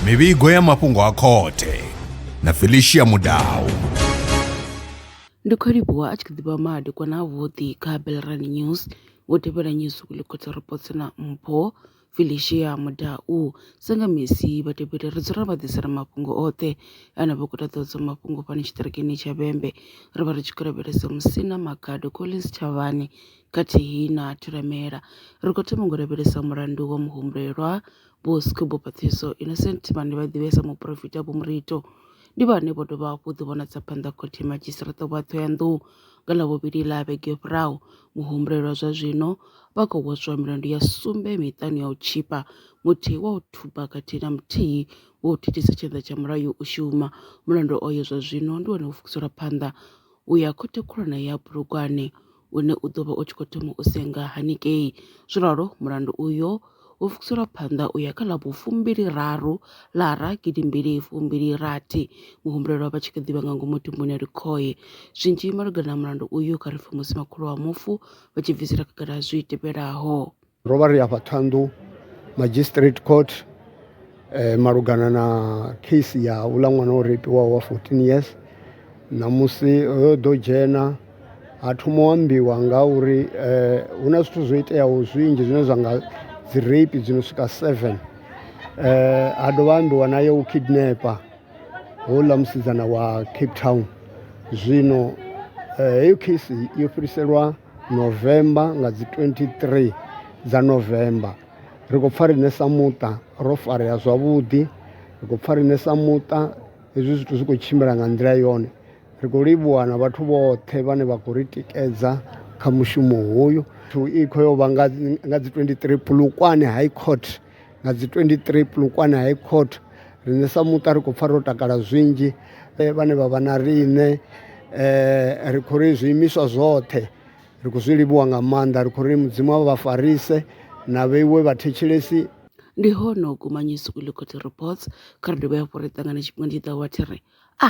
mivhigo ya mafhungo a khothe na felicia mudau ndi khou livhuwa a tshi kha ḓi vha madekwana avhuḓi kha belran news wo tevhela news weekly khothe reports na mpho felicia mudau sanga misi vha tevheli ri dzula vha ḓisela mafhungo oṱhe ane vha khou ṱaḓodzwa mafhungo fhano tshiṱirikini tsha vhembe ri vha ri tshi khou lavhelesa musina magado collins tshavhani khathihi na Thulamela, ri khou thoma ngo lavhelesa mulandu wa muhumbulelwa Vho Schuba Pathiso, Innocent, vhane vha ḓivhiwa sa Muporofita Vho Murito, ndi vhane vho dovha hafhu u ḓivhonadza phanḓa Khothe ya Madzhisiṱiraṱa wa Ṱhohoyanḓou nga ḽa vhuvhili ḽa vhege yo fhiraho. Muhumbulelwa zwa zwino vha khou hweswa milandu ya sumbe miṱanu ya u tshipa, muthihi wa u thuba khathihi na muthihi wa u thithisa tshanḓa tsha mulayo u shuma. Mulandu oyo zwa zwino ndi wone wo fukuselwa phanḓa u ya Khothe Khulwane ya Bulugwane une u ḓo vha u tshi khou thoma u senga hanengei. Zwo ralo mulandu uyo wo pfukiselwa phanḓa u ya kha ḽa vhufumbili-raru Lara gidi mbili fumbili rathi, muhumbulelwa vha tshi kha ḓi vha nga ngomu thumbuni ya likhoe. Zwinzhi malugana na mulandu uyu kha ri pfe musi makhulu wa mufu vha tshi bvisela khagala zwi tevhelaho. Ro vha ri afha Ṱhanḓu Magistrate Court eh, malugana na case ya uḽa ṅwana o repiwaho wa 14 years ṋamusi ro ḓo dzhena ha thoma u ambiwa nga uri eh, hu na zwithu zwo iteaho zwinzhi zwine zwa nga dzi rape dzi no swika 7 eh, ha dovha ambiwa naye u kidnapa houḽa musidzana wa cape town zwino eh, heyo case yo fhiriselwa November nga dzi 23 dza November ri khou pfha riṋe sa muṱa ro farea zwavhuḓi ri khou pfha riṋe sa muṱa hezwi zwithu zwi khou tshimbila nga nḓila yone ri khou livhuwa na vhathu vhoṱhe vhane vha khou ri tikedza kha mushumo hoyu thu ikho yo vha nga dzi 23 Polokwane High Court. Nga dzi 23 Polokwane High Court, riṋe sa muṱa ri khou pfa ro takala zwinzhi vhane vha vha na riṋe ri khou ri zwiimiswa zwoṱhe ri khou zwi livhuwa nga maanḓa ri khou ri mudzimu a vha farise na vheiwe vha thetshelesi. Ndi hone u guma Newsweek Court Reports kha ri dovhe hafhu ri ṱangane tshifhingani tshi ḓaho wa tshi ri a.